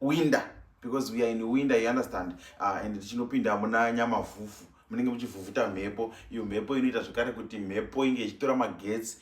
winda because we are in winda you understand uh, and tichinopinda muna nyamavhuvhu munenge muchivhuvhuta mhepo iyo mhepo inoita zvekare kuti mhepo inge ichitora magetsi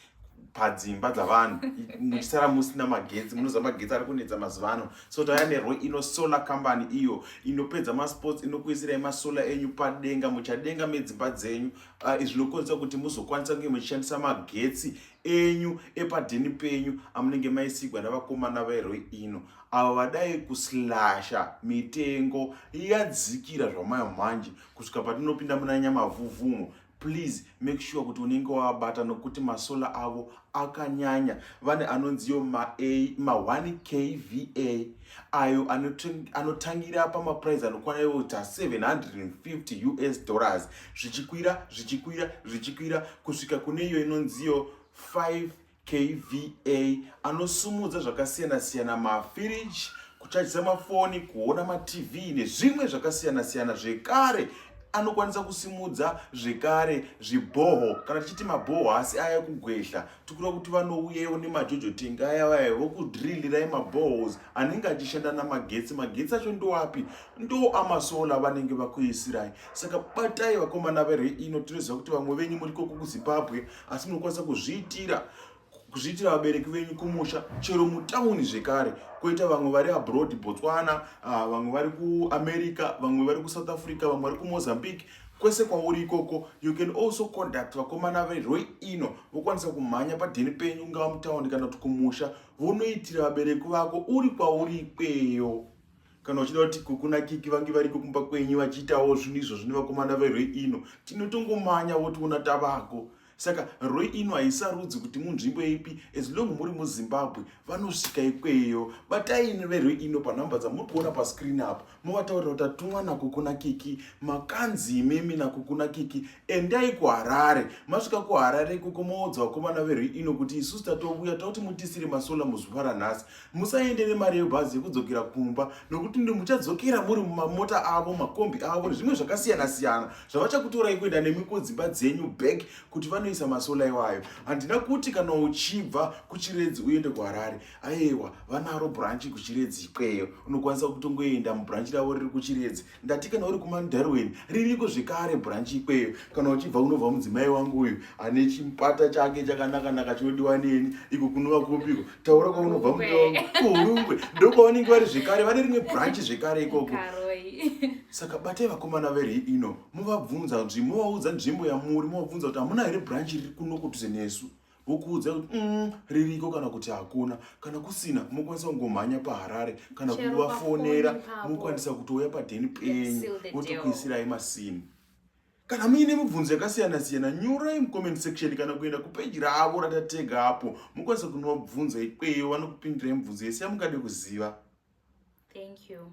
padzimba dzavanhu muchisara musina magetsi munoziva magetsi ari kunetsa mazuva ano so tauya nerwo ino solar company iyo inopedza masports inokuisirai masolar enyu padenga muchadenga medzimba dzenyu ah, izvi uh, zvinokwanisa kuti muzokwanisa kunge muchishandisa magetsi enyu epadheni penyu amunenge maisigwa navakomana veroi ino avo vadai kuslasha mitengo yadzikira zvamayo manje kusvika patinopinda muna nyamavhuvhumo please make sure kuti unenge wavabata nokuti masola avo akanyanya vane anonziyo ma1 kva ayo anotangira pamaprice anokwana iota 750 us dollars zvichikwira zvichikwira zvichikwira kusvika kune iyo inonziyo 5 kva anosumudza zvakasiyana-siyana mafiriji kuchajisa mafoni kuona matv nezvimwe zvakasiyana-siyana zvekare anokwanisa kusimudza zvekare zvibhoho kana tichiti mabhoho asi aya kugwehla tikuda kuti vanouyewo nemajojo tengi aya vaya vokudrilirai mabohos anenge achishanda namagetsi magetsi acho ndoapi ndo amasola vanenge vakuisirai saka batai vakomana vere ino tinoziva kuti vamwe venyu muri koko kuzimbabwe asi munokwanisa kuzviitira kuzviitira vabereki venyu kumusha chero mutauni zvekare koita vamwe vari abroad botswana ah, vamwe vari kuamerica vamwe vari kusouth africa vamwe vari kumozambique kwese kwauri ikoko you can also conduct vakomana veroi ino vokwanisa kumhanya padheni penyu ungava mutaundi kana kuti kumusha vonoitira vabereki vako uri kwauri ikweyo kana uchida kuti kukuna kiki vange variko kumba kwenyu vachiitawo zvinhu izvo zvine vakomana veroi ino tinotongomhanya votiona tavako saka roi ino haisarudzi kuti munzvimbo ipi as long muri muzimbabwe vanosvika ikweyo bataini veroi ino panhamba dzamuri kuona pascreen apa movataurira kuti atumwa nakukuna kiki makanzi imimi nakukuna kiki endai kuharare masvika kuharare ikoko moodza vakomana veroi ino kuti isusu tatouya tauti mutisire masola muzuva ranhasi musaende nemari yebhazi yekudzokera kumba nokuti ndi muchadzokera muri mumamota avo makombi avo nezvimwe zvakasiyana siyana zvavachakutorai kuenda nemi kudzimba dzenyu back kuti vanoisa masola iwayo handina kuti kana uchibva kuchiredzi uende kuharare ayewa vanaro branchi kuchiredzi ikweyo unokwanisa kutongoenda mubranchi ravo riri kuchiredzi ndati kana uri kumandarwen ririko zvekare bhuranchi ikweyo kana uchibva unobva mudzimai wangu uyu ane chipata chake chakanakanaka chinodiwa neni iko kunova kupiko taura kwaunobva muda wangu kuhurungwe ndokwavanenge vari zvekare vane rimwe bhuranchi zvekare ikoko saka batai vakomana veri ino movabvunza nzvimbo movaudza nzvimbo yamuri movabvunza kuti hamuna here bhuranchi riri kuno kutuse nesu vokuudza kuti mm, ririko kana kuti hakuna kana kusina mokwanisa kungomhanya paharare kana kuvafonera mokwanisa kutouya padheni penyu votokuisirai masimu kana muine mibvunzo yakasiyana siyana nyorai mucomment section kana kuenda kupeji ravo ratatega apo mokwanisa kunova bvunzo ikweyo vanokupindirai mibvunzo yese yamungade kuziva thank you